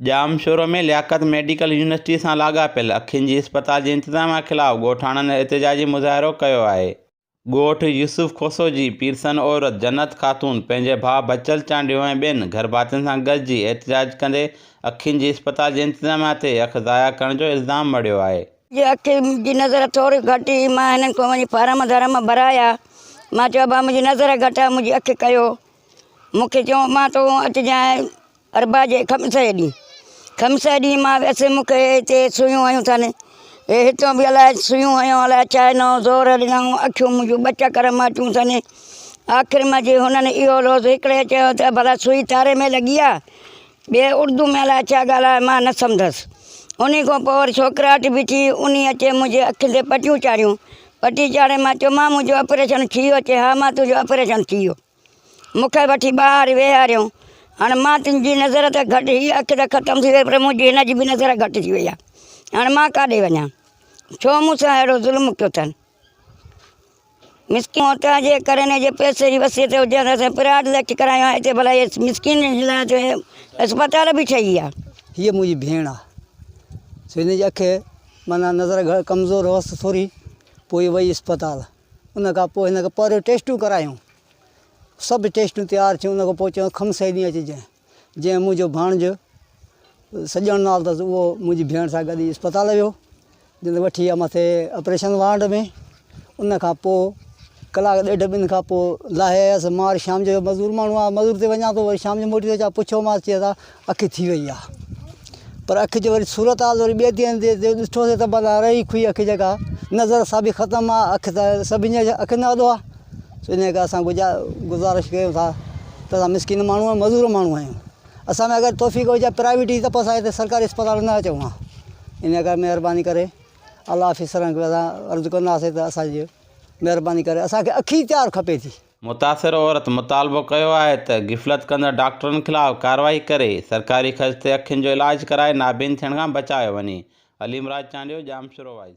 Jamshoro ۾ Liaquat medical university سان لاڳاپيل اکين جي اسپتال جي انتظام خلاف ڳوٺاڻن احتجاجي مظاهرو ڪيو آهي. ڳوٺ يوسف کوسو جي پيرسن عورت جنت خاتون پنهنجي ڀاء بچل چانڊيو ۽ ٻين گهرڀاتين سان گڏجي احتجاج ڪندي اکين جي اسپتال جي انتظاميا تي اک ضايع ڪرڻ جو الزام مڙهيو آهي. جي اکين جي نظر ٿوري گهٽ هئي مان هنن کان وڃي فارم ڌرم ڀرايا مان چيو ڀاء منهنجي نظر گهٽ آهي منهنجي اک ڪيو مون کي چيو مان تو اچجانء اربع جي خمسه ڏينهن خمسه ڏينهن مان ويس مون کي هتي سوئيون هنيون اٿن هي هتيون به الاء سوئيون هنيو الاء ڇا هنيو زور ڏنائون اکيون منهنجون ٻه چڪر ماتيون اٿن آخر ۾ جي هنن اهو لوظ هڪڙي چيو ته ڀلا سوئي تاري ۾ لڳي آ ٻئي اردو ۾ الاء ڇا ڳالهايو مان نه سمڌس انهي کان پوء وري ڇوڪراٽ به ٿي انهي اچي منهنجي اکين تي پٽيون چاڙهيون پٽي چاڙهي مان چيومان منهنجو آپريشن ٿي ويو چي ها مان تنهنجو آپريشن ٿي ويو مون کي وٺي ٻاهر ويهاريائون. هاڻ مان تن جي نظر ته گهٽ، هيء اک ته ختم ٿي ويئي پر منهنجي هن جي به نظر گهٽ ٿي ويئي آهي. هاڻ مان ڪاڏي وڃان؟ ڇو مون سان اهڙو ظلم ڪيو اٿن؟ مسڪين عورتن جي ڪري نه جي پئسي جي وصيت هجي ها ته اسين پراٽ ليڪٽ ڪرايون ها، هتي ڀلا هيء مسڪين جي لاء ته اسپتال به ٺهي ويا. هيء منهنجي ڀيڻ آهي، سو هن جي اک معنيٰ نظر گهٽ ڪمزور هئس ٿوري، پوء هيء وئي اسپتال. ان کان پوء هن کي پهريون ٽيسٽون ڪرايون. سڀ ٽيسٽون تيار ٿيون. ان کان پوء چيائون کم سهي ڏينهن اچجانء. جنهن منهنجو ڀاڻجو سڄڻ نال اٿس اهو منهنجي ڀيڻ سان گڏجي اسپتال ويو. جنهن وٺي ويا مٿي آپريشن وارڊ ۾. ان کان پوء ڪلاڪ ڏيڍ ٻن کان پوء لاهي آيس. مان وري شام جو مزور ماڻهو آهيان مزور تي وڃان ٿو وري شام جو موٽي اچان پڇيومانس چيس ها اکي ٿي وئي آ پر اکي جو وري صورت حال وري ٻئي ڌيان ڏي ته ڏٺو سي ته بلا رئي ڪوئي اکي جيڪا نظر سا به ختم آ اک ته سڀني جي اکين جو آڏو آ ان ڪري اسان گجا گذارش ڪيو ٿا ته اسان مسڪين ماڻهو آهيون مزور ماڻهو آهيون اسان ۾ اگر توفيق هجي پرائيويٽ جي تپس آهي ته سرڪاري اسپتال نه اچو آ ان ڪري مهرباني ڪري الله حافظ سرنگ ويرا عرض ڪنداسي ته اسان جي مهرباني ڪري اسان کي اکي تيار کپي ٿي متاثر عورت مطالبو ڪيو آهي ته غفلت ڪندڙ ڊاڪٽرن خلاف ڪارروائي ڪري سرڪاري خرچ تي اکين جو علاج ڪرائي نابين ٿيڻ کان بچايو وڃي عليم راج چانڊيو ڄامشورو وائس